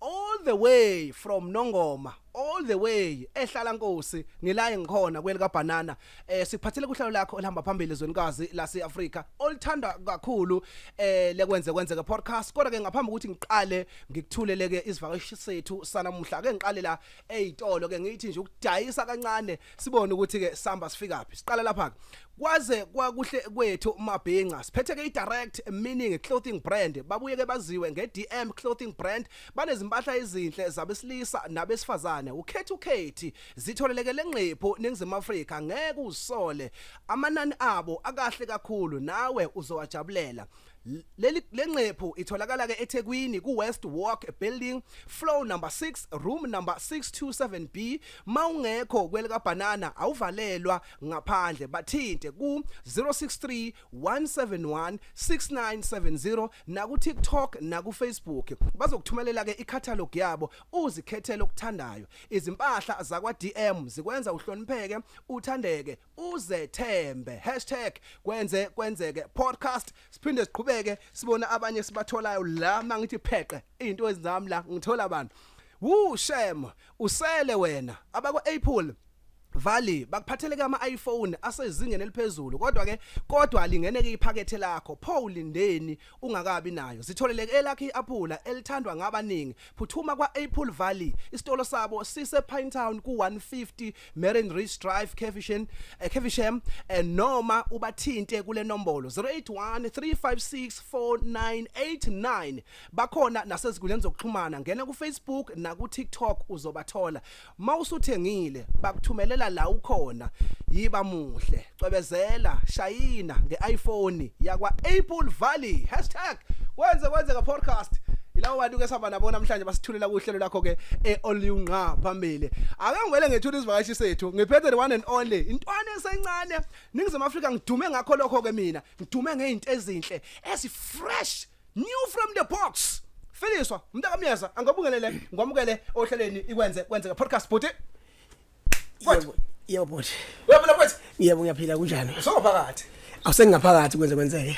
all the way from Nongoma all the way ehlala nkosi ngilaye ngikhona kwelika banana eh siphathele kuhlalo lakho olihamba phambili ezwenikazi lase Africa olithanda kakhulu eh lekwenze kwenzeke podcast kodwa ke ngaphambi ukuthi ngiqale ngikuthuleleke isivakashi sethu sanamuhla ke ngiqale la ezitolo ke ngithi nje ukudayisa kancane sibone ukuthi ke samba sifika phi siqale lapha kwaze kwakuhle kwethu mabhinca siphethe ke idirect meaning clothing brand babuye ke baziwe ngeDM clothing brand banezimpahla ezinhle zabesilisa nabesifazane ukhethi ukhethi zitholeleke lengqepho ningizima Africa ngeke usole amanani abo akahle kakhulu nawe uzowajabulela Leli lengqephu itholakala ke eThekwini ku West Walk Building floor number 6 room number 627B mawungekho kwelika banana awuvalelwa ngaphandle bathinte ku 063 171 6970 na ku TikTok na ku Facebook bazokuthumelela ke icatalog yabo uzikhethele okuthandayo izimpahla zakwa DM zikwenza uhlonipheke uthandeke uzethembe hashtag kwenze kwenzeke podcast siphinde siqhubeke sibone abanye sibatholayo la mangithi pheqe into ezami la ngithola abantu wu shem usele wena abakwa Apple Valley bakuphathele ke ama iPhone asezingeni eliphezulu kodwa ke kodwa lingene ke iphakethe lakho pho ulindeni ungakabi nayo zitholeleke elakhe i-aphula elithandwa ngabaningi phuthuma kwa-apple valley isitolo sabo sisepinetown ku-150 marine ridge drive cavisham eh, cavisham eh, noma ubathinte kule nombolo 081 356 4989 bakhona naseziguleni zokuxhumana ngena kufacebook nakutiktok uzobathola mawusuthengile bakuthumelela la ukhona yiba muhle cwebezela shayina ngeIphone yakwa Apple Valley #kwenze kwenzeka podcast ilawo bantu ke sihamba nabo namhlanje basithulela kuhlelo lakho ke eolunqa phambili ake ngivele ngethula izivakashi sethu ngiphethe the one and only intwana esencane ningizimu Afrika ngidume ngakho lokho ke mina ngidume ngezinto ezinhle esi fresh new from the box Feliswa mntakamyeza angabungelele ngwamukele ohlelweni ikwenze kwenzeka podcast bhuti Kwethu. Yebo bhuti. Uyabona kwethu? Yebo ngiyaphila kunjani? Usungaphakathi. Awusengaphakathi kwenze kwenzeke.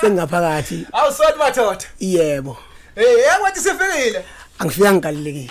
Sengaphakathi. Awusoni madoda. Yebo. Eh, hey, yakwethu sifikile. Angifika ngigalelekile.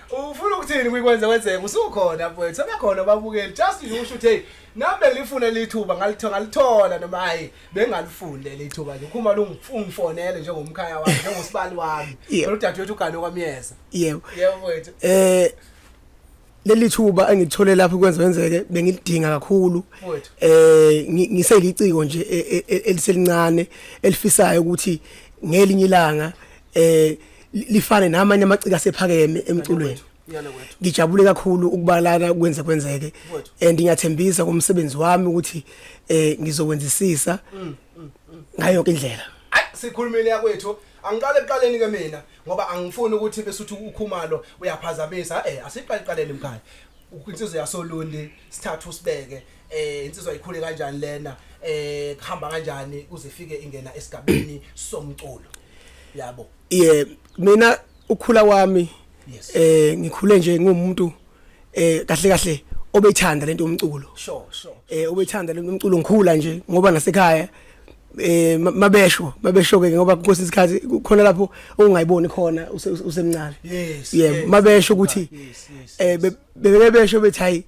ufuna ukuthini kwikwenze kwenzeka usukhona mfowethu sebekhona babukeli just nje usho ukuthi hey nami belifuna lithuba ngalithola ngalithola noma hayi bengalifuni leli thuba nje khuma lungifonele njengomkhaya wami njengosibali wami Yeah. udadewethu ugane kwamyeza yebo yebo mfowethu eh leli thuba engithole lapho kwenza wenzeke bengilidinga kakhulu Mfowethu. eh ngi- ngiseliciko nje e- e- e- eliselincane elifisayo ukuthi ngelinye ilanga eh lifane namanye amaciko asephakeme emculweni ngijabule kakhulu ukubalana kwenze kwenzeke and ngiyathembisa kumsebenzi wami ukuthi eh ngizokwenzisisa mm, mm, mm. ngayo yonke indlela sikhulumile yakwethu angiqale eqaleni ke mina ngoba angifuni ukuthi bese uthi ukhumalo uyaphazamisa eh asiqale eqaleni mkhaya insizwe yasolundi sithathu sibeke eh insizwa ikhule kanjani lena eh kuhamba kanjani kuze ifike ingena esigabeni somculo yabo yeah mina ukhula wami yes. eh ngikhule nje ngumuntu eh kahle kahle obethanda lento umculo sure sure eh obethanda lento umculo ngikhula nje ngoba nasekhaya eh mabesho mabesho ke ngoba kukhona isikhathi khona lapho ongayiboni khona usemncane yes yeah mabesho ukuthi eh bebesho bethi hayi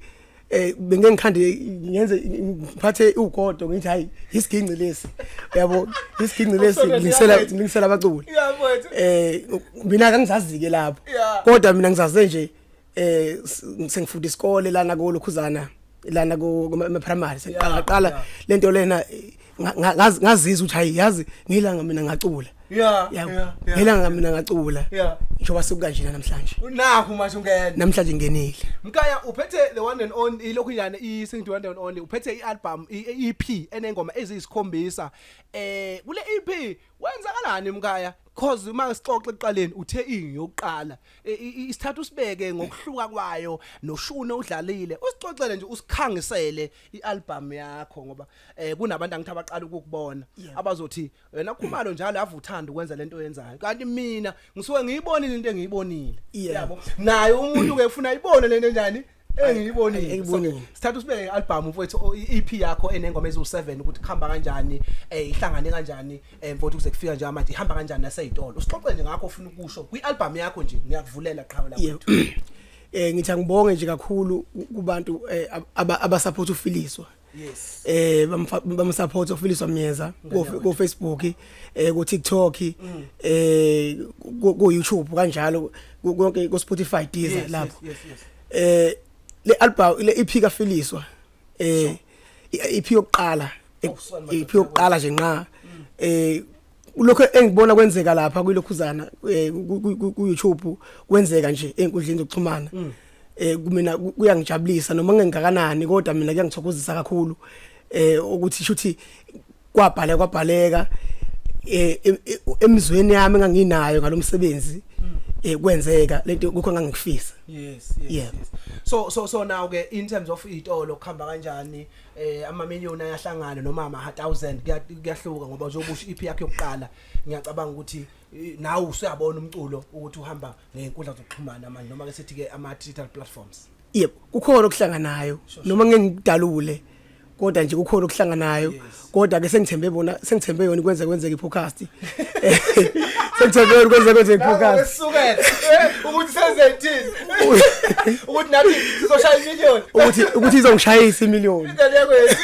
eh bengeke ngikhande ngenze ngiphathe ugodo ngithi hayi isiginci lesi yabo isiginci lesi ngisela ngisela abaculi yabo eh mina kangizazike lapho kodwa mina ngizaze nje eh sengifunda isikole lana ko lokhuzana lana ko primary sengaqala lento lena ngazizwa ukuthi hayi yazi ngilanga mina ngacula yeah yeah ngilanga mina ngacula yeah njoba sekukanje namhlanje nakho manje ungena namhlanje ngenile mkaya uphethe the one and only ilokhu nyane i sing the one and only uphethe i album i EP enengoma eziyisikhombisa eh kule EP wenzakalani mkaya cause uma sixoxe eqaleni uthe ingi yokuqala e, isithathu sibeke ngokuhluka kwayo noshune udlalile usixoxele nje usikhangisele ialbum yakho ngoba eh kunabantu angithi abaqala ukukubona abazothi wena khumalo njalo ave uthanda ukwenza lento oyenzayo kanti mina ngisuke ngiyibonile into engiyibonile yabo naye umuntu ke ufuna ibone lento enjani engiyibonile engiyibonile sithatha usibeke i-album mfowethu o- i-EP yakho enengoma eziwu7 ukuthi kuhamba kanjani eh ihlangane kanjani eh mfowethu kuze kufika nje manje ihamba kanjani naseyitolo usixoxe nje ngakho ofuna ukusho kwi-album yakho nje ngiyakuvulela qhawe lakho Yebo. eh ngithi angibonge nje kakhulu ku- kubantu eh, ab- aba- abasupport ufiliswa yes eh bamsupport ofiliswa myeza ku Facebook eh ku TikTok mm. eh ku YouTube kanjalo konke ku Spotify Deezer lapho eh le album le EP ka Filiswa eh EP yokuqala oh, EP yokuqala nje nqa mm. eh lokho engibona kwenzeka lapha kwilokhuzana eh, ku YouTube kwenzeka nje enkundleni zokuxhumana mm. eh kumina kuyangijabulisa noma ngengakanani kodwa mina kuyangithokozisa kakhulu eh ukuthi shuthi kwabhaleka kwabhaleka eh emizweni yami enganginayo ngalomsebenzi mm. eh kwenzeka lento kukho ngangikufisa yes yes, yeah. yes so so so now ke in terms of itolo khamba kanjani eh ama million ayahlangana noma ama 1000 kuyahluka ngoba uzobusha ipi yakhe yokuqala ngiyacabanga ukuthi nawe usuyabona umculo ukuthi uhamba ngenkundla zokuxhumana manje noma ke sithi ke ama digital platforms yebo kukhona okuhlanganayo noma ngeke ngidalule kodwa nje kukhona okuhlanganayo kodwa ke sengithembe bona sengithembe yona kwenze kwenzeke i-podcast Sengithola ukwenza konje ngiphokazi. Usukela ukuthi senzethini. Ukuthi nathi sizoshaya imillion. Ukuthi ukuthi izongishayisa imillion. Indlela yakho yethu.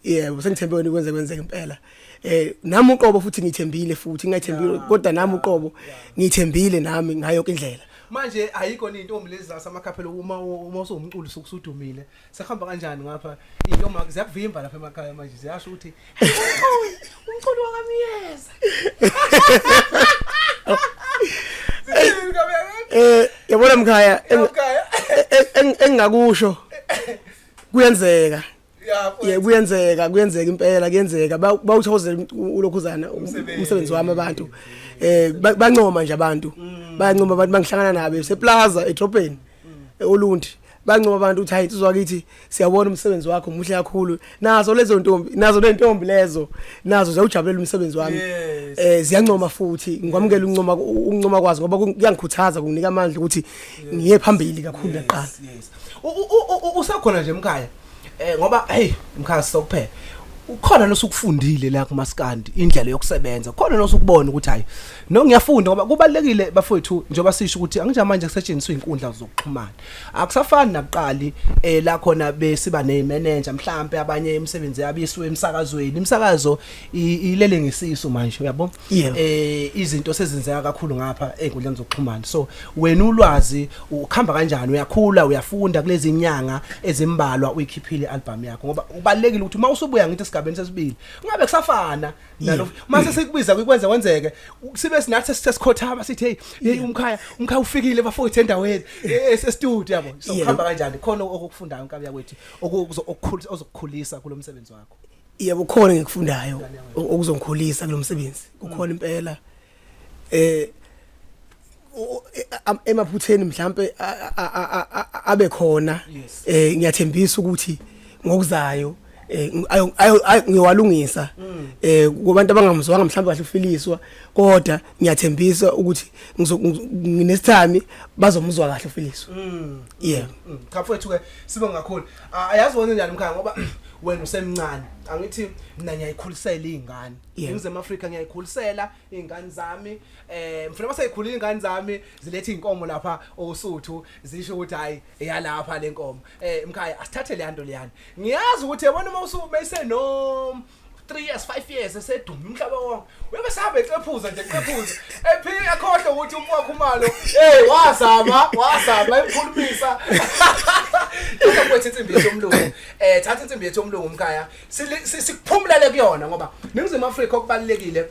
Yebo, sengithembe wena ukwenza kwenzeka impela. eh nami uqobo futhi ngithembile futhi ngithembile kodwa nami uqobo ngithembile nami ngayo indlela manje ayikho into omlezasa amakhaphela uma uma usungumculi sukusudumile sekuhamba kanjani ngapha iyoma ziyakuvimba lapha emakhaya manje ziyasho ukuthi umculo wakamyeza eh yabona mkhaya engingakusho kuyenzeka yeah kuyenzeka kuyenzeka impela kuyenzeka bawuthozela ulokhuzana umsebenzi wami abantu eh bancoma nje abantu mm. bayancoma abantu bangihlangana nabo seplaza edrobheni olundi bancoba abantu ukuthi hayi sizwa kithi siyabona umsebenzi wakho muhle kakhulu nazo lezo ntombi nazo lentombi lezo nazo ziyawujabulela umsebenzi wami eh ziyancoma futhi ngikwamukela uncoma uncoma kwazi ngoba kuyangikhuthaza kunginika amandla ukuthi ngiye phambili kakhulu laqala usakhona nje mkhaya eh ngoba hey mkhaya sokuphela ukhona nosukufundile la kumaskandi indlela yokusebenza khona nosukubona ukuthi hayi no ngiyafunda ngoba kubalekile bafowethu njengoba sisho ukuthi angija manje kusetshenziswa inkundla zokuxhumana akusafani nakuqali eh la khona besiba ne manager mhlambe abanye imisebenzi yabo isuwe emsakazweni imsakazo ilele ngesisu manje uyabo Yeah. eh izinto sezenzeka kakhulu ngapha enkundleni zokuxhumana so wena ulwazi ukhamba kanjani uyakhula uyafunda kulezi nyanga ezimbalwa uyikhiphile album yakho ngoba ubalekile ukuthi uma usubuya ngithi esigabeni sesibili ungabe kusafana nalo uma sesikubiza kwenze wenzeke u- sibe sinathi sesikhothama sithi hey hey umkhaya umkhaya ufikile bafowethu endaweni e- e- e-studio yabo so Yeah. ukhamba kanjani khona okufundayo nkabi yakwethu okuzo- okukhulisa ozokukhulisa kulomsebenzi wakho Yebo khona ngikufundayo okuzongikhulisa kulomsebenzi. Kukhona impela eh emaphutheni mhlambe abe khona eh ngiyathembisa ukuthi ngokuzayo eh, ngiyowalungisa mm. eh kubantu abangamzwanga mhlawumbe kahle ufiliswa kodwa ngiyathembisa ukuthi nginesithami bazomuzwa kahle ufiliswa mm. yeah mm. cha mfowethu ke sibe ngakhulu ayazi wenze njani mkhaya ngoba wena usemncane angithi mina ngiyayikhulisela izingane ngizema Africa ngiyayikhulisela izingane zami eh mfuna baseyikhulile izingane zami zilethe inkomo lapha osuthu zisho ukuthi hayi eyalapha lenkomo eh mkhaya asithathe le yanto leyana ngiyazi ukuthi yabona uma usumayise no 3 years 5 years esedume umhlaba wonke uyobe sabe cephuza nje cephuza ephika akhohle ukuthi umfo wakhe umalo hey wazama wazama emkhulumisa Yeka kwethu insimbi yethu omlungu eh thatha insimbi yethu omlungu umkhaya Sili- si- sikuphumulele kuyona ngoba ningizimu Afrika okubalekile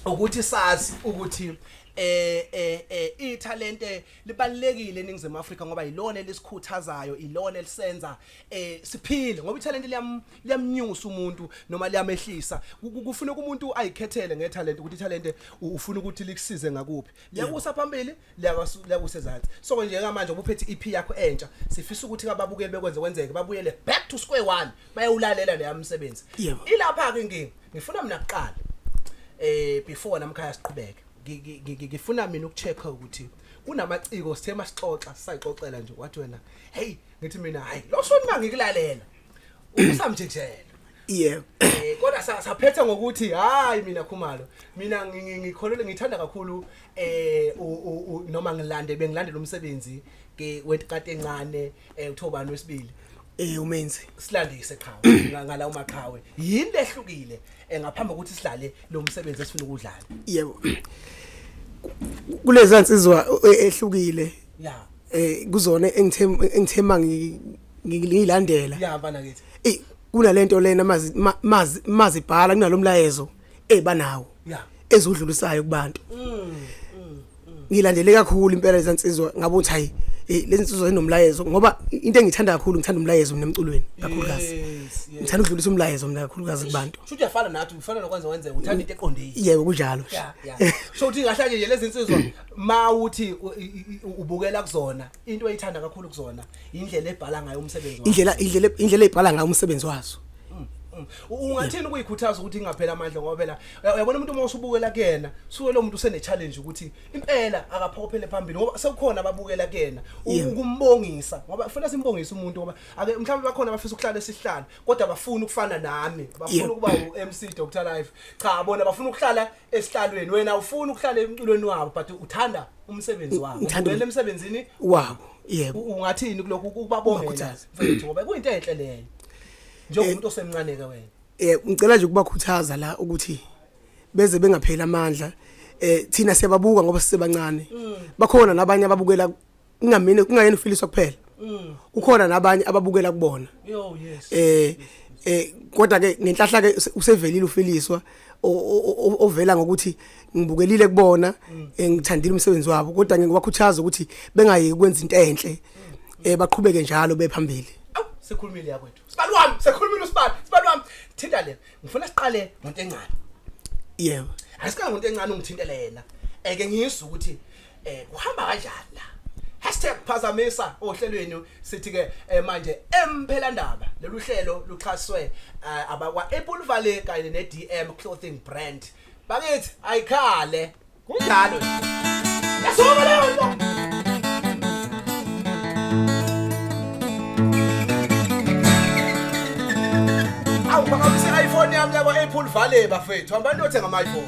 ukuthi sazi ukuthi eh eh eh ithalente libalekile eningizimu Afrika ngoba yilona elisikhuthazayo ilona elisenza eh siphile ngoba ithalente liyam liyamnyusa umuntu noma liyamehlisa Ku- ku- kufuneka umuntu ayikhethele ngethalente ukuthi ithalente u- ufuna ukuthi likusize ngakuphi liyakusa phambili liyakusu- liyakusa ezansi so nje ngamanje ubuphethe i-ep yakho entsha sifisa ukuthi ababukeli bekwenze kwenzeke babuyele back to square one bayewulalela leya msebenzi Yebo. ilapha-ke inkinga ngifuna mina kuqala eh before namkhaya siqhubeke Ngi- ngi- ngi- ngi- ngifuna mina ukucheck ukuthi kunamaciko sithe masixoxa sisayixoxela nje wathi wena hey ngithi mina hayi lo shoni mangikulalela usamjejela yebo Eh, kodwa sa- saphetha ngokuthi hayi mina khumalo mina ngi- ngi- ngikholelwe ngithanda kakhulu eh u- u- u- noma ngilande bengilandela umsebenzi ke wetikati encane eh uthobani wesibili eh umenzi silandise qhawe nga- ngala umaqhawe yini lehlukile eh, ngaphambi kokuthi sidlale lo msebenzi esifuna ukudlala yebo kulezi nsizwa eh, ehlukile ya eh kuzona engithe engithema ngi ngiyilandela ya bana kithi eh kunalento lena mazi mazi mazibhala kunalomlayezo ebanawo eh, ya ezudlulisayo kubantu mm, mm, mm. ngilandele kakhulu impela lezansizwa ngabo ukuthi hayi eh, lezi nsizwa zinomlayezo ngoba into engithanda kakhulu ngithanda umlayezo mina emculweni kakhulukazi ngithanda ukudlulisa umlayezo mina kakhulukazi kubantu shuthi uyafana nathi ufana nokwenza wenze uthanda into eqondile yebo kunjalo so uthi ngahlanje nje lezi nsizwa mawuthi ubukela kuzona into ayithanda kakhulu kuzona indlela ebhala ngayo umsebenzi wazo indlela indlela indlela ebhala ngayo umsebenzi wazo ungathini ukuyikhuthaza ukuthi ingaphela amandla ngoba phela uya- uyabona umuntu uma usubukela kuyena suke lo muntu usene-challenge ukuthi impela akaphokophele phambili ngoba sekukhona ababukela kuyena u- Yeah. ukumbongisa ngoba kufanele simbongise umuntu ngoba ake mhlawumbe bakhona abafisa ukuhlala esihlala kodwa bafuna ukufana nami bafuna Yeah. ukuba u-mc dr life cha bona bafuna ukuhlala esihlalweni wena ufuna ukuhlala emculweni wabo but uthanda umsebenzi wabo Ngithanda um- uvele emsebenzini wabo yebo u- ungathini kulokhu ukubabongela Ungakhuthaza. mfethu ngoba kuyinto enhle leyo njengomuntu osemncane ke wena eh ngicela nje ukubakhuthaza la ukuthi beze bengapheli amandla eh thina siyababuka ngoba sisebancane bakhona nabanye ababukela kungamina kungayena ufiliswa kuphela mm. kukhona nabanye ababukela kubona oh, eh eh kodwa ke ngenhlahla ke usevelile ufiliswa ovela ngokuthi ngibukelile kubona mm. eh, ngithandile umsebenzi wabo kodwa ngeke wakhuthaza ukuthi bengayeki ukwenza into enhle mm. eh baqhubeke njalo bephambili sikhulumile yakwethu sibani wami sikhulumile usibani sibani wami thinta le ngifuna siqale ngonto encane yebo asika ngonto encane ungithintele yena eke ngizwe ukuthi eh kuhamba kanjani la hashtag phazamisa ohlelweni sithi ke eh, manje emphelandaba lolu hlelo luxhaswe eh, abakwa Apple Valley kanye ne DM clothing brand bakithi ayikhale kunjalo yasuka leyo nto awubakabisa iPhone yami yakwa Apple Valley bafethu hamba nothenga ama iPhone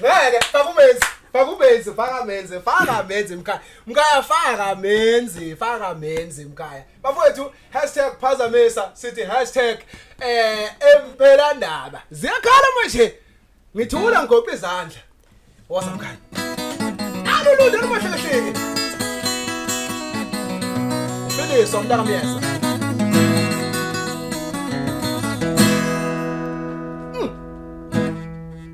ngeke faka umenzi faka umenzi faka menzi faka menzi mkhaya mkhaya faka menzi faka menzi mkhaya bafowethu hashtag phazamisa sithi hashtag eh emphelandaba ziyakhala manje ngithula ngigoqa izandla wosa mkhaya alulunde lumahlelehleke ufiliswa umntaka myeza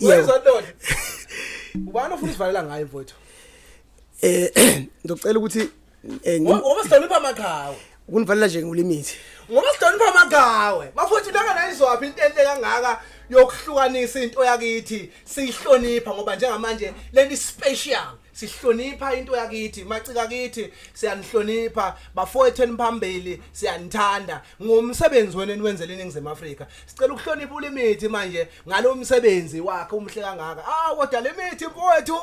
Yebo. Ubani ofuna usivalela ngaye mfowethu? Eh ngicela ukuthi eh ngoba sihlonipha amaqhawe. Ukunivalela nje ngulimithi. Ngoba sihlonipha amaqhawe. Bafowethu laka nayizwaphi into enhle kangaka yokuhlukanisa into yakithi siyihlonipha ngoba njengamanje leli special sihlonipha into yakithi macika kithi siyanihlonipha bafowethu eniphambili siyanithanda ngomsebenzi wenu eniwenzele iningizimu Afrika sicela ukuhlonipha ulimithi manje ngalo msebenzi wakhe umhle kangaka ah kodwa limithi mfowethu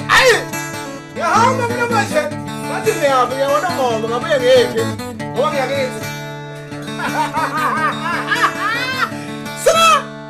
ayi ngihamba mina manje bathi ngiyaphi ngiyabona ngoba ngabuye ngiphi ngoba ngiyakithi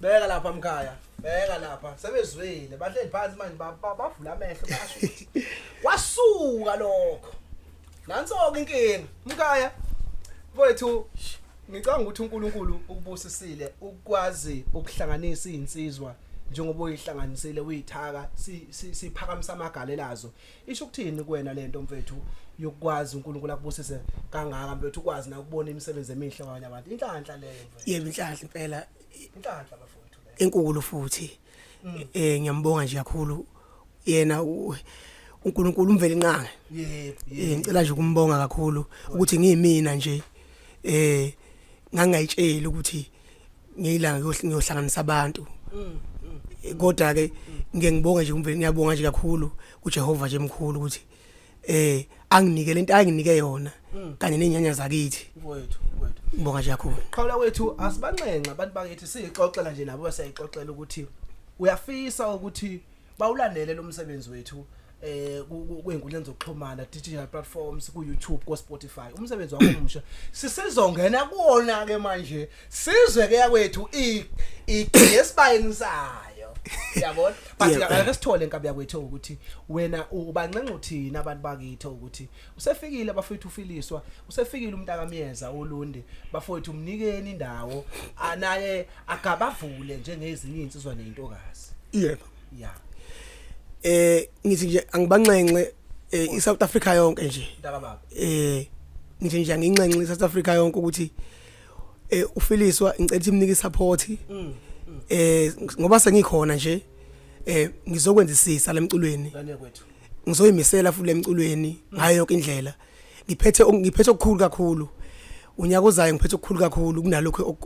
beka lapha mkhaya beka lapha sebezwile bahleli phansi manje ba- ba- bavula amehlo basho ukuthi kwasuka lokho nanso-ke inkinga mkhaya mfowethu sh, ngicabanga ukuthi unkulunkulu ukubusisile ukwazi ukuhlanganisa iy'nsizwa njengoba uyihlanganisile uyithaka si- si- siphakamisa amagale lazo isho ukuthini kuwena le nto mfethu yokukwazi unkulunkulu akubusise kangaka mfethu ukwazi nakubona imisebenzi emihle kwabanye abantu inhlanhla leyo mfethu yebo inhlanhla impela inhlanhla bafowethu enkulu futhi mm. eh ngiyambonga nje kakhulu yena uNkulunkulu umveli nqange yebo eh, ngicela nje ukumbonga kakhulu ukuthi ngiyimina nje eh ngangayitsheli ukuthi ngiyilanga ngiyohlanganisa abantu mm, mm. eh, kodwa ke ngeke ngibonge nje umveli ngiyabonga nje kakhulu kuJehova nje mkhulu ukuthi eh anginike lento anginike yona hmm. kanye nenyanya zakithi mfowethu mfowethu ngibonga nje kakhulu qhawula wethu asibanxenxa abantu bakithi siyixoxela nje nabo basayixoxela ukuthi uyafisa ukuthi bawulandele lo msebenzi wethu eh kwezinkundleni zokuxhumana digital platforms ku YouTube ko Spotify umsebenzi wakho omusha sisizongena kuona ke manje Sizwe ke yakwethu i igesibayeni sayo. Yabona? But Yeah. ngeke sithole inkabi yakwethu ukuthi wena ubancenga uthini abantu bakithi ukuthi usefikile bafowethu ufiliswa, usefikile umntaka myeza uLundi, bafowethu mnikeni indawo anaye agabavule njengezinye insizwa nentokazi. yebo Yeah. eh ngithi nje angibanxenxe eh, iSouth Africa yonke nje Mntaka baba. eh ngithi nje anginxenxe iSouth Africa yonke ukuthi eh ufiliswa ngicela ukuthi imnike support mm. eh ngoba sengikhona nje eh ngizokwenzisisa lemculweni ngizoyimisela futhi lemculweni ngayo yonke indlela ngiphethe ngiphethe okukhulu kakhulu unyaka ozayo ngiphethe okukhulu kakhulu kunalokho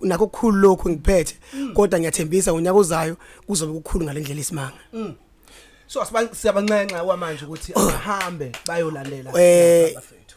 nakho okukhulu lokho ngiphethe mm. kodwa ngiyathembisa unyaka ozayo kuzobe kukhulu ngalendlela isimanga mm. so siyabanxenxa kwamanje ukuthi ahambe bayolalela eh, abafethu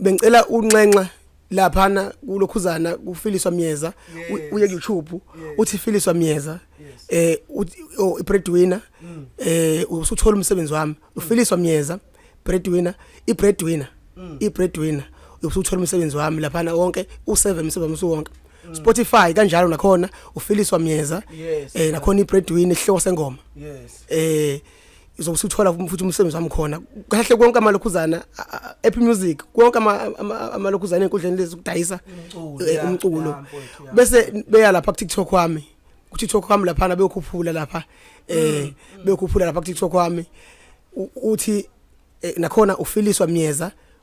bengicela unxenxa laphana kulokhuzana kufiliswa myeza uye YouTube uthi filiswa myeza eh oh, ibreadwinner mm. eh usuthola umsebenzi wami ufiliswa myeza breadwinner ibreadwinner mm. ibreadwinner usuthola umsebenzi wami laphana wonke u7 umsebenzi wami usuwonke mm. Spotify kanjalo nakhona ufiliswa myeza eh nakhona ibreadwinner ihloko sengoma yes eh izowusuthola futhi umsebenzi wami khona kahle konke amalokhuzana epi music konke amalokhuzana enkundleni lezi kudayisa eh, umculo bese beya lapha ku TikTok wami ku TikTok wami lapha beyokhuphula lapha eh mm, mm. beyokhuphula lapha ku TikTok wami uthi eh, nakhona ufiliswa myeza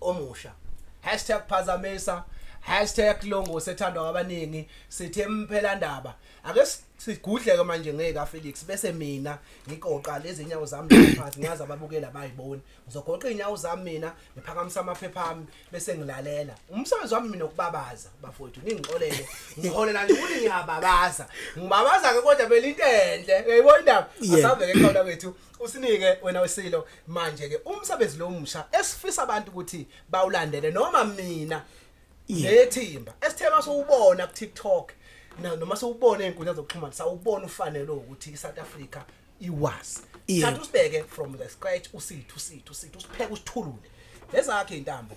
omusha hashtag phazamisa hashtag longo sethandwa ngabaningi sithe mphelandaba ake sigudleke manje ngeka Felix bese mina ngiqoqa lezi inyawo zami ngaphansi ngiyazi ababukeli abayiboni ngizogoqa inyawo zami mina ngiphakamisa amaphepha ami bese ngilalela umsebenzi wami mina ukubabaza bafowethu ningixolele ngiholela nje ukuthi ngiyababaza ngibabaza ke kodwa belintenhle uyayibona indaba asaveke khona kwethu usinike wena wesilo manje ke umsebenzi lo musha esifisa abantu ukuthi bawulandele noma mina ngethimba esithema sowubona ku TikTok na noma sowubona izinkundla zokuxhumana sawubona ufanele ukuthi iSouth Africa iwazi thatha usibeke from the scratch usithu sithu sithu usipheke usithulule lezakhe intambo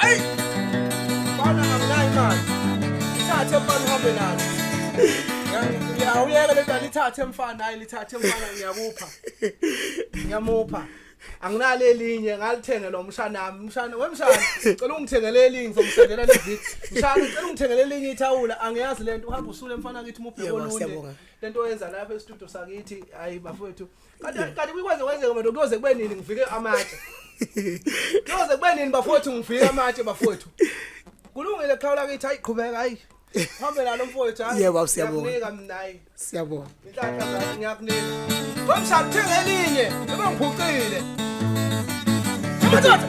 Hey! Bana anginayo imali. Ithathe mfana uhambe nalo. Ngiyawuyeka le dala ithathe mfana, hayi lithathe mfana ngiyakupha. Ngiyamupha. anginalo elinye ngalithenge lo mshana wami mshana wemshana cela ungithengele elinye ngizomsendela le video mshana cela ungithengele elinye ithawula angiyazi lento uhamba usule mfana kithi mubheke olunye lento oyenza lapha e-studio sakithi hayi bafowethu Kanti kanti kuyikwaze kwenzeka manje kuyoze kube nini ngivike amatshe. Kuyoze kube nini bafowethu ngivike amatshe bafowethu. Kulungile khawula kithi hayi qhubeka hayi. Hambe nalo mfowethu hayi. Yebo, siyabonga. Ngiyakunika mina hayi. Siyabonga. Inhlanhla zakho ngiyakunika. Ngomshado thenga elinye. Yebo ngiphucile. Madoda.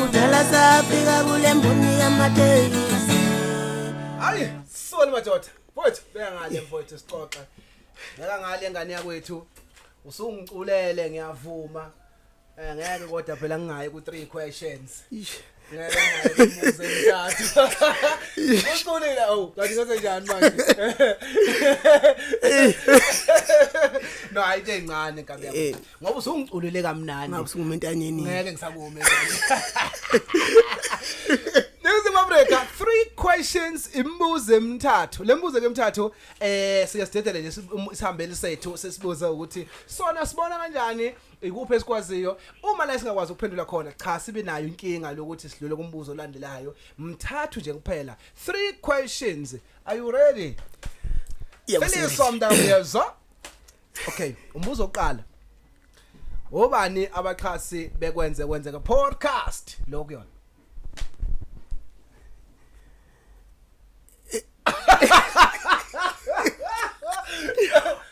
kudala safika kule mboni yamatekisi hayi soni madoda mfowethu beya ngale mfowethu sixoxe ngeka ngale ngane yakwethu usungiculele ngiyavuma eh ngeke kodwa phela ngingayi ku three questions ngeke ngimuze mthathu usulile awu kanti ngase njani manje no ayike incane kabi yakho ngoba usungiculile kamnandi ngabe singumentanyeni ngeke ngisakume Nizim Africa three questions imibuzo emithathu lembuzo ke emithathu eh siyasidedela nje um, isihambeli sethu sesibuza ukuthi sona sibona kanjani ikuphi esikwaziyo uma la singakwazi ukuphendula khona cha sibe nayo inkinga lokuthi sidlule kumbuzo olandelayo mthathu nje kuphela three questions are you ready Yebo, Felisa mntakwethu okay umbuzo oqala obani abaxhasi bekwenze kwenzeka podcast lokuyona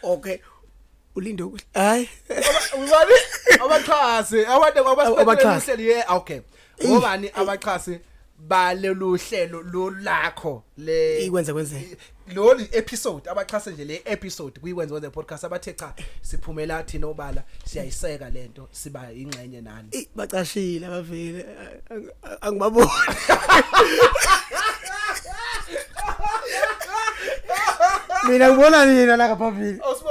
okay ulinde ukuthi hayi ubani abaxhasi abantu abaxhasi ye okay obani abaxhasi balolu hlelo lolakho le ikwenze kwenze lolu episode abaxhase nje le episode kuyikwenze kwenze podcast abathe cha siphumela thina obala siyayiseka lento siba ingxenye nani Eh, bacashile abavile ang- ang- angibaboni mina ngibona nina la ngaphambili awusibo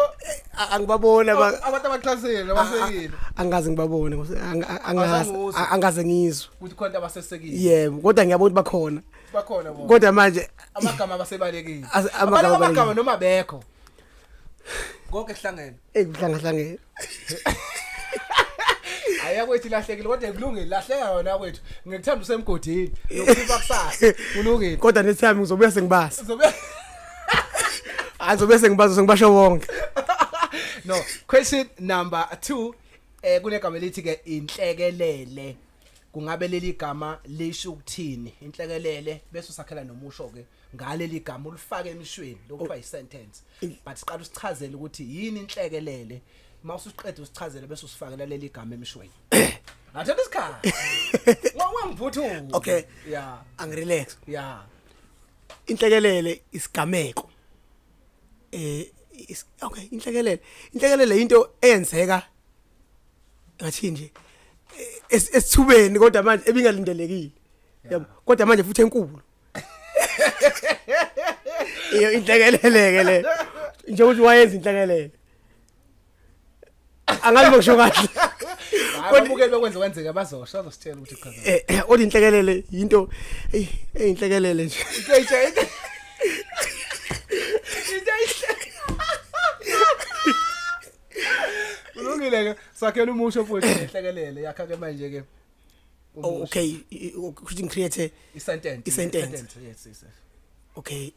A- angibaboni aba- abantu abaxhasile a- abasekile a- angazi ngibabone ngose- anga- a- angazi Abasanguzi. a- angaze ngizwe ukuthi khona abasesekile yebo kodwa ngiyabona ukuthi bakhona bakhona bona kodwa manje amagama abasebalekile As- amagama Abantu amagama abalekile. noma bekho konke kuhlangene eyi kuhlangahlangene hayi akwethu ilahlekile kodwa kulungile lahleka yona akwethu ngikuthanda usemgodini nokuba kusasa kulungile kodwa nethi yami ngizobuya sengibazi Uzobe- azobe sengibazo sengibasho wonke no question number 2 eh kunegama elithi ke inhlekelele kungabe leli gama lisho ukuthini inhlekelele bese usakhela nomusho ke ngaleli gama ulifake emishweni lokuthiwa oh. isentence but siqala usichazele ukuthi yini inhlekelele mawusuqeda usichazele bese usifakela leli gama emishweni Athatha isikhathi. Ngokungangivuthuki. Okay. Yeah. Angirelax. Yeah. inhlekelele isigameko eh is, okay inhlekelele inhlekelele into eyenzeka ngathi nje esithubeni kodwa manje ebingalindelekile yabo kodwa manje futhi enkulu iyo inhlekelele ke le nje ukuthi wayenza inhlekelele angazi bokusho kahle ababukeli bakwenze kwenzeka bazosho bazositshela ukuthi chaza eh, eh, othi inhlekelele yinto eyi eyinhlekelele nje into ayitsha into ayitsha kulungile ke sakhela umusho futhi inhlekelele yakha ke manje ke oh, okay ukuthi ngicreate isentence isentence yes yes okay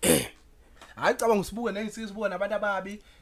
hayi cabanga usibuke nengisibuke nabantu ababi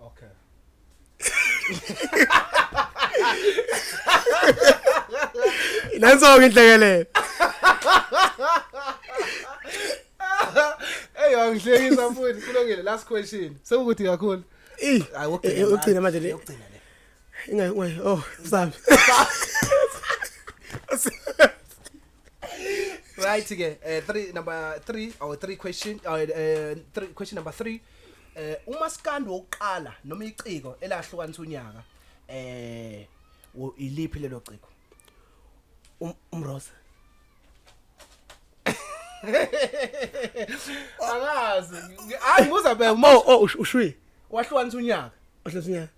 Okay. Nanso-ke inhlekelele. Hey, angihlekisa futhi kulungile last question. Sekukuthi kakhulu. Eh, ukugcina manje le. Ukugcina le. Ingayi, oh, msabi. right ke eh three number 3 or three question uh, uh, three, question number 3 eh umaskandi wokuqala noma iciko elahlukanisa unyaka eh wo- iliphi lelo ciko Um- umrose angazi hayi nguzabeka oh oh ush- ushwi wahlukanisa unyaka uhlezi unyaka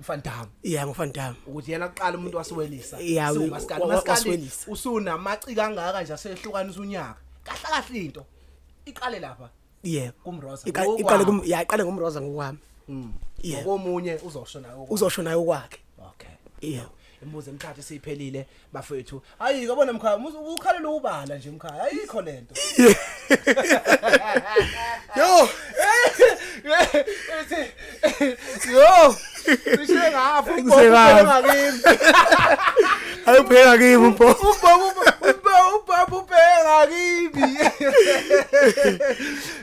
uFantam yeah ngoFantam ukuthi yena kuqala umuntu wasiwelisa yeah umaskandi umaskandi usunamaci kangaka nje asehlukanisa unyaka kahle kahle into iqale lapha yeah kumroza iqale kum yeah iqale ngomroza ngokwami mm. yeah komunye uzosho nayo uzosho nayo kwakhe okay yeah Imibuzo emithathu esiphelile bafethu. Hayi kabona mkhaya, ukhalela ubala nje mkhaya. Ayikho lento. Yo. Yo. Bishe ngafu, ubona ngakimi. Ayipheka kimi mpo. Ubaba ubaba ubaba ubheka kimi.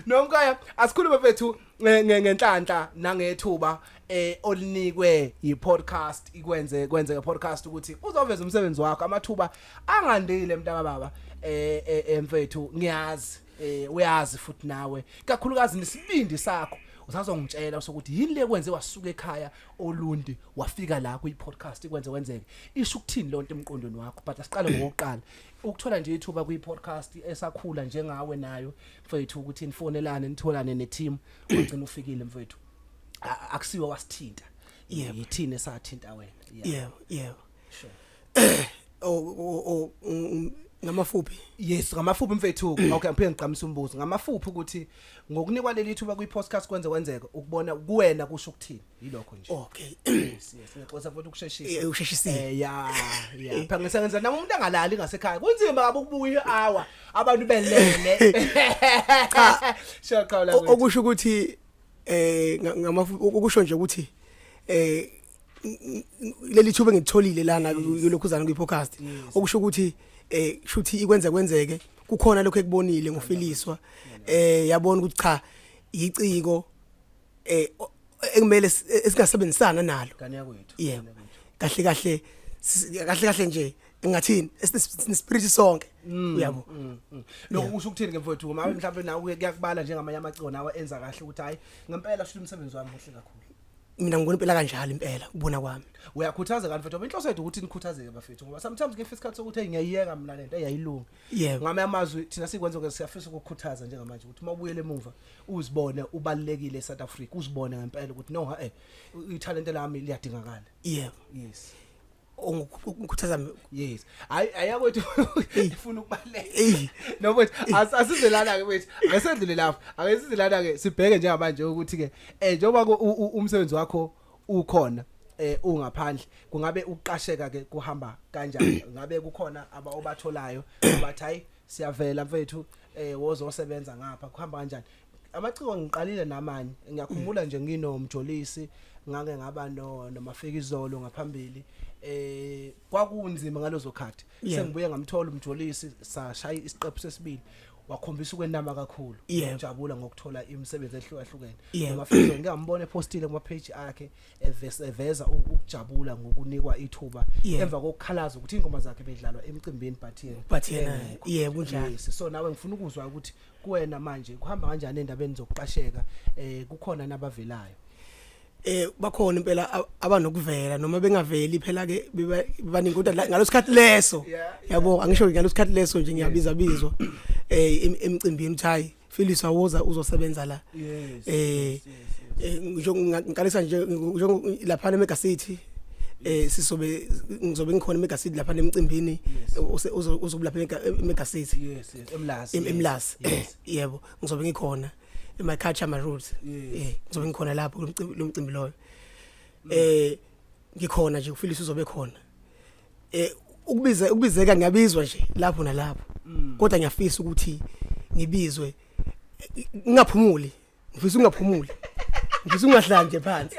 Nomkhaya, asikhulume bafethu. ngenhlanhla nangethuba eh olinikwe yipodcast ikwenze kwenze ke podcast ukuthi uzoveza umsebenzi wakho amathuba angandile mntaka baba eh, eh, eh mfethu ngiyazi eh uyazi futhi nawe kakhulukazi nesibindi sakho usazongitshela ukuthi yini le kwenze wasuka ekhaya olundi wafika la kuyi podcast ikwenze kwenzeke isho ukuthini lonto emqondweni wakho but asiqale ngokuqala ukuthola nje ithuba kuyi podcast esakhula njengawe nayo mfethu ukuthi nifonelane nitholane neteam ugcina ufikile mfethu A- akusiwe wasithinta Yebo. yithini esathinta wena Yeah. yebo yebo Sure. o o- o um, ngamafuphi yes ngamafuphi mfethu okay ngiphinde ngiqamisa umbuzo ngamafuphi ukuthi ngokunikwa leli thuba kwi-podcast kwenze kwenzeka ukubona kuwena kusho ukuthini yilokho nje okay yes yes ngixoxa futhi ukusheshisa eh usheshisile eh ya ya eh. phangisa ngenza nami umuntu angalali ngasekhaya kunzima baba ukubuya hour abantu belele cha shaqala okusho ukuthi eh ngama ukusho nje ukuthi eh leli thuba ngitholile lana kulokhuzana kwi podcast okusho ukuthi eh shuthi ikwenza kwenzeke kukhona lokho ekubonile ngofiliswa eh yabona ukuthi cha yiciko eh o- ekumele s- eh, esingasebenzisana nalo Ngane yakwethu. yebo kahle kahle s- kahle kahle nje ngathini esinespirit sonke uyabo Mm, mm. Lokho kusho ukuthini ke mfowethu uma mhlawumbe nawe kuye- kuyakubala njengamanye amacona awa enza kahle ukuthi hayi ngempela shuthi umsebenzi wami muhle kakhulu. mina ngibona impela kanjalo impela ubona kwami Uyakhuthaza kanti mfowethu ngoba inhloso yethu ukuthi nikhuthazeke bafethu ngoba sometimes ngifisa isikhathi sokuthi hey ngiyayiyeka mina lento eyayilungi. yebo ngame amazwi thina sikwenza ukuthi siyafisa ukukhuthaza njengamanje ukuthi uma ubuyele emuva uzibone ubalekile eSouth Africa uzibone ngempela ukuthi no eh italent lami liyadingakala yebo yes ungikhuthaza yes hayi ayakwethu ifuna ukubaleka noma asize lana ke wethu ngesedlule lapha akesize lana ke sibheke njengamanje ukuthi ke eh njengoba umsebenzi wakho ukhona eh ungaphandle kungabe ukuqasheka ke kuhamba kanjani ngabe kukhona aba obatholayo bathi hayi siyavela mfethu eh wozosebenza ngapha kuhamba kanjani amaciko ngiqalile namanye ngiyakhumbula nje nginomjolisi ngake ngaba no nomafikizolo ngaphambili eh kwakunzima ngalozo khathi Yeah. sengibuye ngamthola umjolisi sashaya isiqephu sesibili wakhombisa ukwenama kakhulu Yeah. ngijabula ngokuthola imisebenzi ehlukahlukene Yeah. noma futhi ngike ngambona epostile kuma page akhe evesa eveza u- ukujabula ngokunikwa ithuba Yeah. emva kokukhalaza ukuthi ingoma zakhe bedlalwa emcimbini but yena But yena, engekho. yeah, kunjalo. Yes, so nawe ngifuna ukuzwa ukuthi kuwena manje kuhamba kanjani endabeni zokuqasheka eh kukhona nabavelayo eh bakhona impela abanokuvela noma bengaveli phela ke baningi kodwa ngalosikhathi leso yabo angisho ngalosikhathi leso nje ngiyabiza bizwa eh emcimbini uthayi Phyllis awoza uzosebenza la eh, eh ngiqalisa nje lapha eMega City eh sisobe ngizobe ngikhona eMega City lapha emcimbini uzobulapha eMega City yes emlasi emlasi yebo ngizobe ngikhona in my culture my roots eh ngizobe ngikhona lapho lo mcimbi loyo eh ngikhona nje ufilisa uzobe khona eh ukubiza ukubizeka ngiyabizwa nje lapho nalapho mm. kodwa ngiyafisa ukuthi ngibizwe ngingaphumuli ngifisa ungaphumuli ngifisa ungahlali nje phansi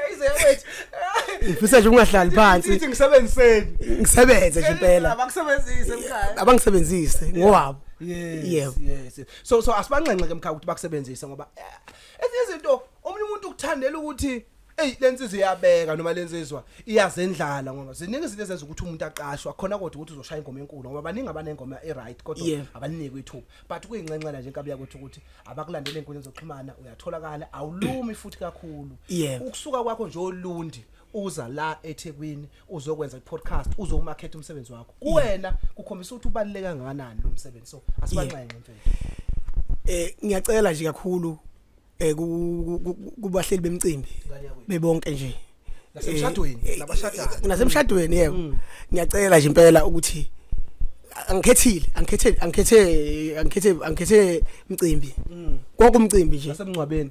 ngifisa nje ungahlali phansi ngithi ngisebenziseni ngisebenze nje impela abangisebenzise mkhaya abangisebenzise ngowabo yes yes so so asibanxenxe ke mkhaya ukuthi bakusebenzise ngoba eh, ezinye izinto omunye umuntu ukuthandela ukuthi Ey lensizwa iyabeka noma lensizwa iyazendlala ngoba ziningi izinto ezenza ukuthi umuntu aqashwa khona kodwa ukuthi uzoshaya ingoma enkulu ngoba baningi abanengoma eright kodwa Yeah. abaniniki ithuba but kuyinxenxela nje inkabi yakwethu ukuthi abakulandele inkundla zokuxhumana uyatholakala awulumi futhi kakhulu Yeah. ukusuka kwakho nje olundi uza la eThekwini uzokwenza i-podcast uzowumakhetha umsebenzi wakho kuwena kukhombisa ukuthi ubaluleke kangakanani lo msebenzi so asibanxenxe mfethu eh ngiyacela nje kakhulu eh kubahleli bemcimbi bebonke nje nasemshadweni eh, eh, nabashadayo eh, nasemshadweni yebo mm. ngiyacela nje impela ukuthi angikhethile angikhethe angikhethe angikhethe angikhethe mcimbi mm. konke umcimbi nje nasemncwabeni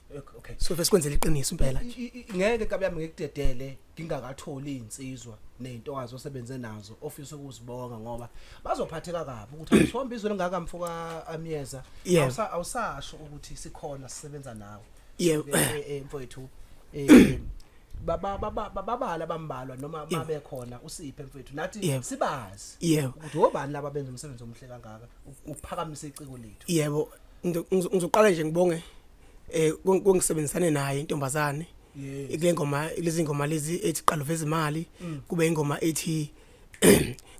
okay so vese kwenzela iqiniso impela nje I- i- ngeke kabi yami ngikudedele ngingakatholi insizwa nezintokazi osebenze nazo ofisa ukuzibonga ngoba bazophatheka kabi ukuthi awusihomba izwe lingaka mfoka amyeza Yeah. Awusa- awusasho ukuthi sikhona sisebenza nawe Yeah. Eh, eh, eh, mfowethu eh baba baba babala bambalwa noma babe khona usiphe mfowethu nathi Yeah. sibazi Yeah. ukuthi obani laba benza umsebenzi omuhle kangaka u- ukuphakamise iciko lethu yebo ngizo- ngizo- ngizoqala nje ngibonge eh kungisebenzisane naye intombazane kule ngoma lezi ngoma lezi ethi qalo veza imali mm. kube ingoma ethi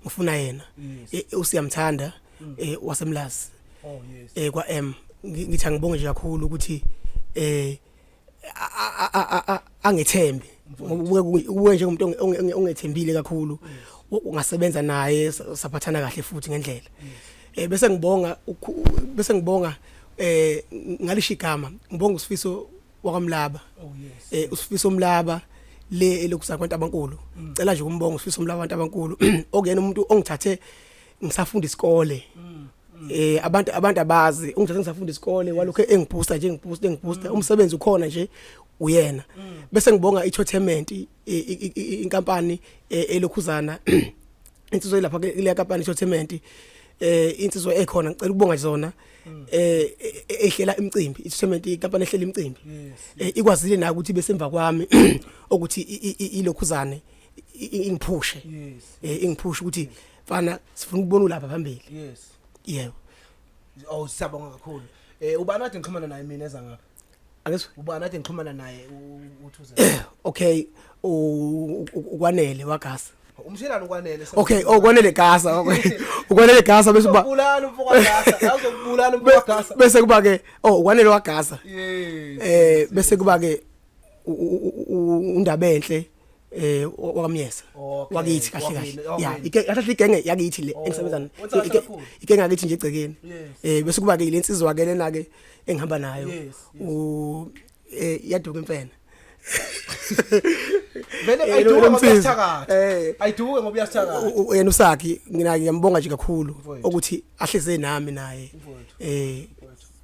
ngifuna yena e, usiyamthanda mm. e, wasemlazi oh, eh kwa M ngithi angibonge nje kakhulu ukuthi eh angethembe ngoba ubuke njengomuntu ongethembile kakhulu ungasebenza naye saphathana kahle futhi ngendlela eh bese ngibonga bese ngibonga eh ngalisho igama ngibonga usifiso wakwamlaba oh, eh usifiso mlaba le elokuza kwabantu abankulu mm. cela nje ukumbonga usifiso mlaba abantu abankulu okuyena umuntu ongithathe ngisafunda isikole mm. eh abantu abantu abazi ungithatha ngisafunda isikole walokho engibooster nje ngibooster engibooster mm. umsebenzi ukhona nje uyena mm. bese ngibonga ichotement inkampani e, elokhuzana insizwa ilapha kule kampani ichotement eh insizwa ekhona ngicela ukubonga zona mm. eh e, e, ehlela imicimbi ichotement inkampani ehlela imicimbi eh, ikwazile na ukuthi besemva kwami ukuthi ilokhuzane ingiphushe eh, ingiphushe ukuthi mfana sifuna ukubona ulapha phambili yes yebo oh siyabonga kakhulu eh ubani ade ngixhumana naye mina eza ngapha akeso ubani ade ngixhumana naye uthuze okay ukwanele wagasa umshelana ukwanele okay oh kwanele gasa ukwanele gasa bese uba ubulala umfoka gasa uzokubulala umfoka gasa bese kuba ke oh ukwanele wagasa eh bese kuba ke undaba enhle eh wakamyesa Okay, wakithi kahle kahle wakini, ya okay. ike athathe igenge yakithi le Oh, engisebenza nayo. wenza Ike- kakhulu. igenge yakithi nje egcekeni Yes. eh bese kuba ke lensizwa ke lena ke engihamba nayo Yes, yes. u eh yaduka imfene vele Eh, ayiduke lo- lo ngoba msizi. uyasithakatha Eh. ayiduke ngoba uyasithakatha U- u- yena usakhi ngina ngiyambonga nje kakhulu Mfowethu. ukuthi ahleze nami naye Mfowethu. eh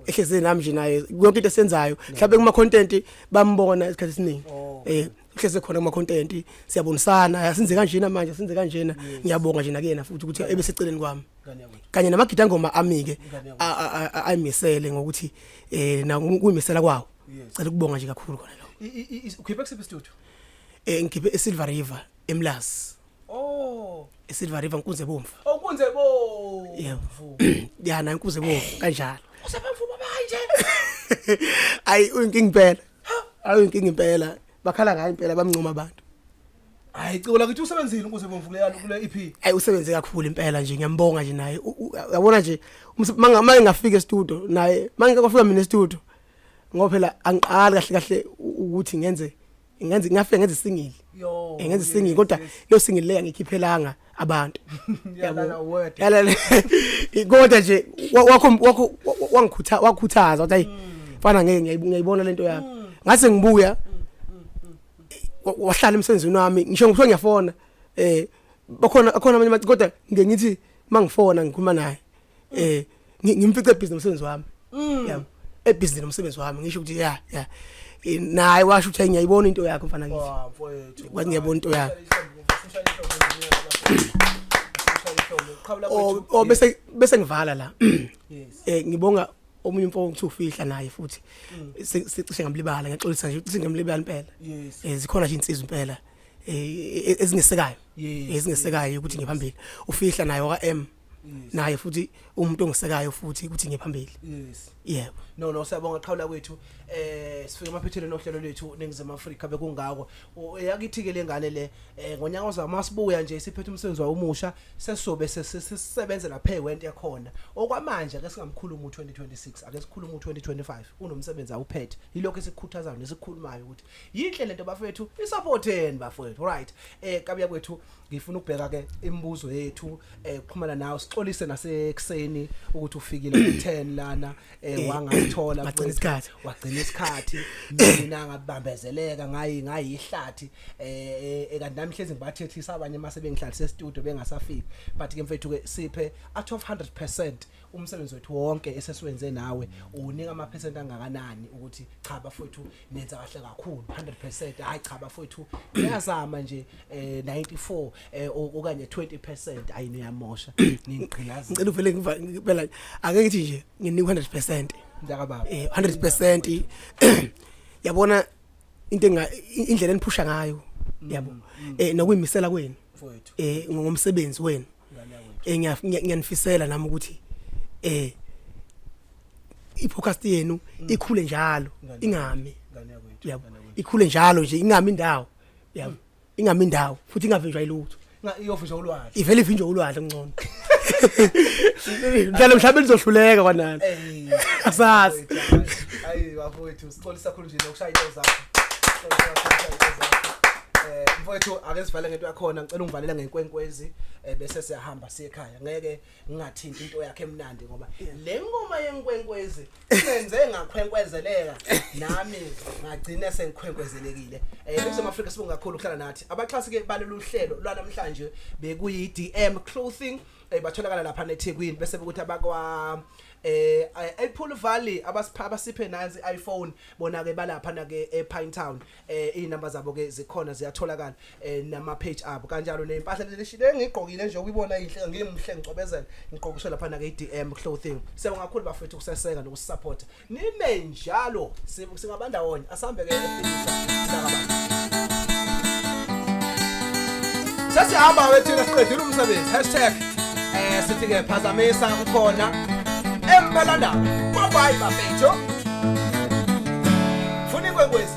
ehleze nami nje naye yonke into esenzayo mhlawumbe kuma content bambona isikhathi esiningi Oh. eh uhleze khona kuma content siyabonisana yasinze kanjena manje sinze kanjena ngiyabonga nje nakuyena futhi ukuthi ebe seceleni kwami kanye namagida ngoma amike ayimisele ngokuthi eh na kuyimisela kwawo cela ukubonga nje kakhulu khona lo ukhiphe kusiphi studio eh ngikhiphe eSilver River eMlazi oh eSilver River nkunze bomvu oh kunze bomvu yebo yana nkunze bomvu kanjalo usebamvu babanje ayi uyinkingi phela ayo inkinga impela bakhala ngayo impela bamncoma abantu hayi cula ukuthi usebenzile ukuze bomvuleyana kule EP hayi usebenze kakhulu impela nje ngiyambonga nje naye uyabona nje manje ngafika e-studio naye manje kwafika mina e-studio ngoba phela angiqali kahle kahle ukuthi ngenze ngenze ngafika ngenze singili yo eh, ngenze singili kodwa leyo singili leya ngikhiphelanga abantu yalala word yalala kodwa nje wakho wakho wangikhuthaza wakhuthaza wathi mm. fana ngeke ngiyayibona lento yami mm. ngase ngibuya mm, wahlala emsenzweni wami ngisho ngikuthiwa ngiyafona eh bakhona akhona abanye kodwa ngiye ngithi mangifona ngikhuluma naye eh ngimfice ebhizi nomsebenzi wami mm. yabo ebhizi nomsebenzi wami ngisho ukuthi ya ya eh, naye washo ukuthi ngiyayibona into yakho mfana ngithi kwathi ngiyabona into yakho oh, oh bese bese ngivala la eh ngibonga omunye umfo ngithu fihla naye futhi mm. sicishe ngamlibala ngiyaxolisa nje ukuthi ngamlibala impela eh zikhona nje insizwa impela eh, e, e, ezingesekayo ezingesekayo ukuthi ngiphambili ufihla naye oka M naye futhi umuntu ongisekayo futhi ukuthi ngiye phambili yes yebo no no siyabonga qhawula kwethu eh sifike emaphethelweni ohlelo lwethu ningizema Africa bekungako yakithi ke lengane le eh, ngonyaka ozama sibuya nje siphethe umsebenzi wawo omusha sesobe sesebenza lapha ewent yakhona okwamanje ake singamkhulu mu 2026 ake sikhulu mu 2025 unomsebenzi awuphethe yilokho esikhuthazayo nesikhulumayo ukuthi yinhle lento bafethu isupport yenu bafethu right eh kabuya kwethu ngifuna ukubheka ke imibuzo yethu eh kuxhumana nawe sixolise nasekuseni ukuthi ufikile ku10 lana eh, eh wangathola wagcina isikhathi wagcina isikhathi mina ngabambezeleka ngayi ngayihlathi eh, eh, eh kanti nami hlezi ngibathethisa abanye mase bengihlalise studio bengasafiki but ke mfethu ke siphe at 100% umsebenzi wethu wonke esesiwenze nawe unika ama percent angakanani ukuthi cha bafethu nenza kahle kakhulu 100% hayi cha bafowethu niyazama nje eh 94 eh, o- okanye 20% ayi niyamosha ningigqilaza ngicela uvele ngiva- ngibela ake ngithi nje nginikwa 100% mntaka baba eh 100% yabona into enga i- indlela eniphusha ngayo yabo eh nokuyimisela kwenu mfowethu eh ngomsebenzi wenu eh ngiyanifisela nami ukuthi eh i-podcast yenu mm. ikhule njalo ingami yabo ikhule njalo nje ingami indawo yabo mm. ingami indawo futhi ingavinjwa ilutho iyovinjwa ulwandle ivele ivinjwa ulwandle ngcono mhlawumbe mhlawumbe lizohluleka kwanani asazi ayi bafowethu xolisa khulu nje ukushaya into zakho Xolisa kakhulu ukushaya into zakho. Eh, mfowethu ake sivale ngento yakhona ngicela ungivalele ngenkwenkwezi eh, bese siyahamba siye ekhaya ngeke ngingathinti into yakhe emnandi ngoba le ngoma yenkwenkwezi senze ngakhwenkwezeleka nami ngagcina sengikhwenkwezelekile eh eNingizimu Afrika sibonga kakhulu ukuhlala nathi abaxhasi ke balolu hlelo lwanamhlanje bekuyi DM clothing eh batholakala lapha neThekwini bese ukuthi abakwa eh ePool Valley abasipha abasiphe nansi iPhone bona ke balapha na ke ePine Town eh inumber zabo ke zikhona ziyatholakala eh nama page abo kanjalo neimpahla lelishile ngigqokile nje ukuyibona inhle ngimhle ngicobezela ngigqokiswe lapha na ke iDM clothing sewongakhulu bafethu kuseseka nokusupport nime njalo singabandawonye asambe ke sesihamba ke thina siqedile umsebenzi hashtag eh sithi ke phazamisa ukhona empela ndaba bye bye bafethu funa ikwenkwezi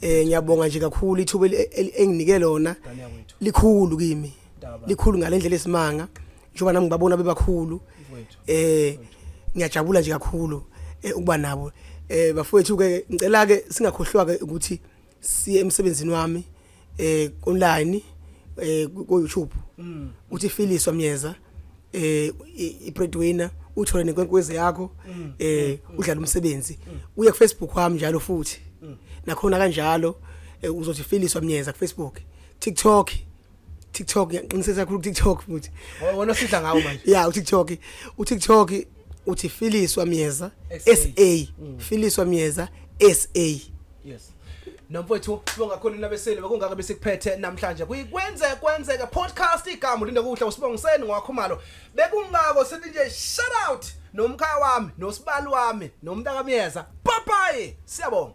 eh ngiyabonga nje kakhulu ithuba enginike lona likhulu kimi likhulu ngalendlela esimanga njengoba nami ngibabona bebakhulu eh ngiyajabula nje kakhulu eh, ukuba nabo eh bafowethu ke ngicela ke singakhohlwa ke ukuthi siye emsebenzini wami eh online eh ku YouTube mm. uthi Philiso Myeza eh i breadwinner uthole nenkwenkwezi yakho mm. eh mm. udlala umsebenzi mm. uye ku Facebook wami njalo futhi nakhona kanjalo eh, uzothi Philiso Myeza ku Facebook TikTok TikTok ngiqiniseka kakhulu TikTok futhi wona sidla ngawo manje yeah u TikTok u TikTok uthi Philiso Myeza SA Philiso Myeza SA yes nomfowethu sibonga khona inabeseli bekungaka besikuphethe namhlanje kuyikwenze kwenzeka podcast igama linde kuhle usibongiseni ngwakhumalo bekungako sithi nje shout out nomkhaya wami nosibali wami nomntakamyeza bye bye siyabonga